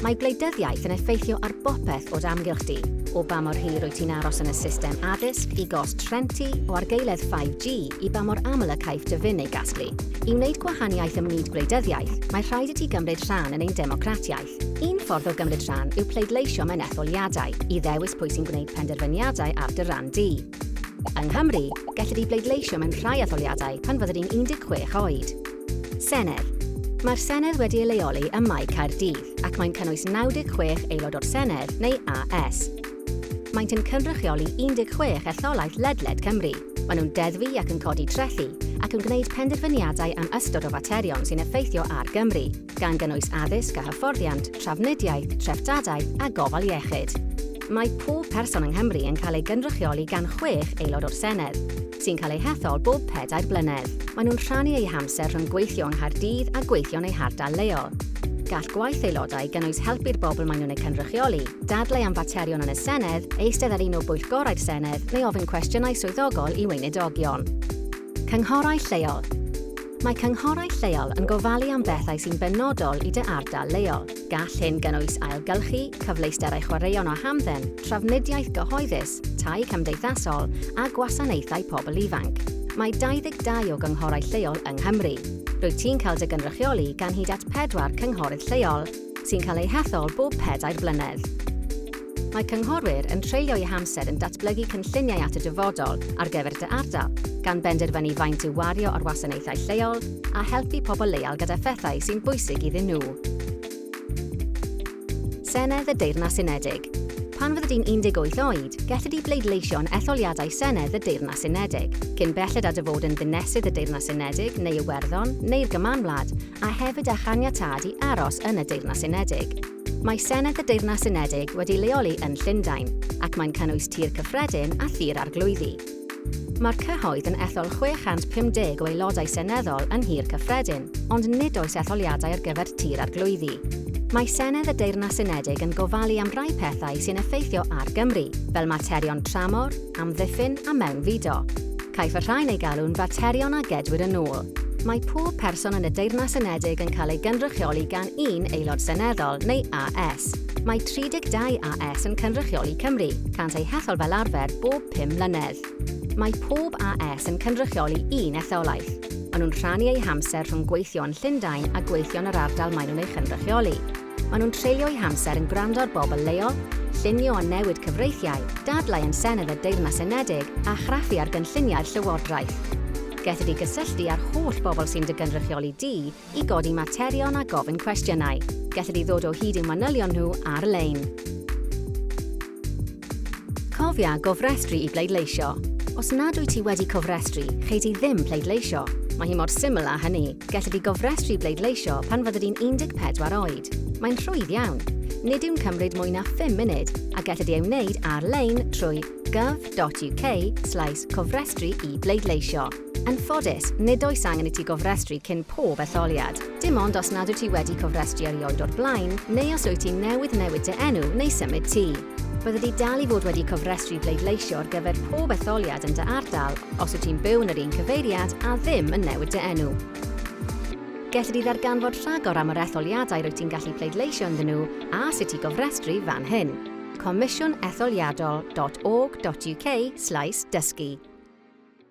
Mae gwleidyddiaeth yn effeithio ar bopeth o d' amgylch di, o ba mor hir wyt ti'n aros yn y system addysg, i gost rhent ti, o argaeledd 5G, i ba mor aml y caiff dy fin ei gasglu. I wneud gwahaniaeth ym myd gwleidyddiaeth, mae rhaid i ti gymryd rhan yn ein democratiaeth. Un ffordd o gymryd rhan yw pleidleisio mewn etholiadau, i ddewis pwy sy'n gwneud penderfyniadau ar dy ran di. Yng Nghymru, gellir di bleidleisio mewn rhai etholiadau pan fydde di'n 16 oed. Senedd. Mae'r Senedd wedi ei leoli ym Mae Caerdydd ac mae'n cynnwys 96 Aelod o'r Senedd neu AS. Maent yn cynrychioli 16 etholaeth ledled Cymru. Maen nhw'n deddfu ac yn codi trethi ac yn gwneud penderfyniadau am ystod o faterion sy'n effeithio ar Gymru. gan gynnwys addysg a hyfforddiant, trafnidiaeth, treftadaeth a gofal iechyd. Mae pob person yng Nghymru yn cael ei gynrychioli gan chwech Aelod o'r Senedd, sy'n cael eu hethol bob pedair blynedd. Maen nhw'n rhannu eu hamser rhwng gweithio yng Nghaerdydd a gweithio yn eu hardal leol. Gall gwaith Aelodau gynnwys helpu'r bobl maen nhw'n eu cynrychioli, dadlau am faterion yn y Senedd, eistedd ar un o bwyllgorau'r Senedd neu ofyn cwestiynau swyddogol i weinidogion. Cynghorau Lleol Mae cynghorau lleol yn gofalu am bethau sy'n benodol i dy ardal leol. Gall hyn gynnwys ailgylchu, cyfleusterau chwaraeon a hamdden, trafnidiaeth gyhoeddus, tai cymdeithasol a gwasanaethau pobl ifanc. Mae 22 o gynghorau lleol yng Nghymru. Rwyt ti'n cael dy gynrychioli gan hyd at pedwar cynghorydd lleol, sy'n cael eu hethol bob pedair blynedd. Mae cynghorwyr yn treulio eu hamser yn datblygu cynlluniau at y dyfodol ar gyfer dy ardal, gan benderfynu faint i'w wario ar wasanaethau lleol a helpu pobl leol gyda phethau sy'n bwysig iddyn nhw. Senedd y Deyrnas Unedig. Pan fyddi di'n 18 oed, gelli di bleidleisio yn etholiadau Senedd y Deyrnas Unedig, cyn belled â dy fod yn Ddinesydd y Deyrnas Unedig neu Iwerddon neu'r Gymanwlad, a hefyd â chaniatâd i aros yn y Deyrnas Unedig. Mae Senedd y Deyrnas Unedig wedi leoli yn Llundain, ac mae'n cynnwys Tŷ'r Cyffredin a Thŷ'r Arglwyddi. Mae'r cyhoedd yn ethol 650 o aelodau seneddol yn Nhŷ'r Cyffredin, ond nid oes etholiadau ar gyfer Tŷ'r Arglwyddi. Mae Senedd y Deyrnas Unedig yn gofalu am rai pethau sy'n effeithio ar Gymru, fel materion tramor, amddiffyn a mewnfudo. Caiff y rhain eu galw'n faterion a gedwir yn ôl. Mae pob person yn y Deyrnas Unedig yn cael ei gynrychioli gan un Aelod Seneddol neu AS. Mae 32 AS yn cynrychioli Cymru, cânt eu hethol fel arfer bob pum mlynedd. Mae pob AS yn cynrychioli un etholaeth. Maen nhw'n rhannu eu hamser rhwng gweithio yn Llundain a gweithio yn yr ardal maen nhw'n ei chynrychioli. Maen nhw'n treulio'u hamser yn gwrando ar bobl leol, llunio a newid cyfreithiau, dadlau yn Senedd y Deyrnas Unedig a chraffu ar gynlluniau'r Llywodraeth. Gelli di gysylltu â'r holl bobl sy'n dy gynrychioli di i godi materion a gofyn cwestiynau. Gelli di ddod o hyd i'w manylion nhw ar-lein. Cofia gofrestru i bleidleisio. Os nad wyt ti wedi cofrestru, chei di ddim pleidleisio. Mae hi mor syml â hynny. Gelli di gofrestru i bleidleisio pan fyddi di'n 14 oed. Mae'n rhwydd iawn. Nid yw'n cymryd mwy na phum munud a gelli di ei wneud ar-lein trwy gov.uk slaes cofrestru i bleidleisio. Yn ffodus, nid oes angen i ti gofrestru cyn pob etholiad, dim ond os nad wyt ti wedi cofrestru erioed o'r blaen neu os wyt ti newydd newid dy enw neu symud tŷ. Byddet ti dal i fod wedi cofrestru bleidleisio ar gyfer pob etholiad yn dy ardal os wyt ti'n byw yn yr un cyfeiriad a ddim yn newid dy enw. Gelli di ddarganfod rhagor am yr etholiadau rwyt ti'n gallu pleidleisio ynddyn nhw a sut i gofrestru fan hyn, comisiwnetholiadol.org.uk slaes dysgu.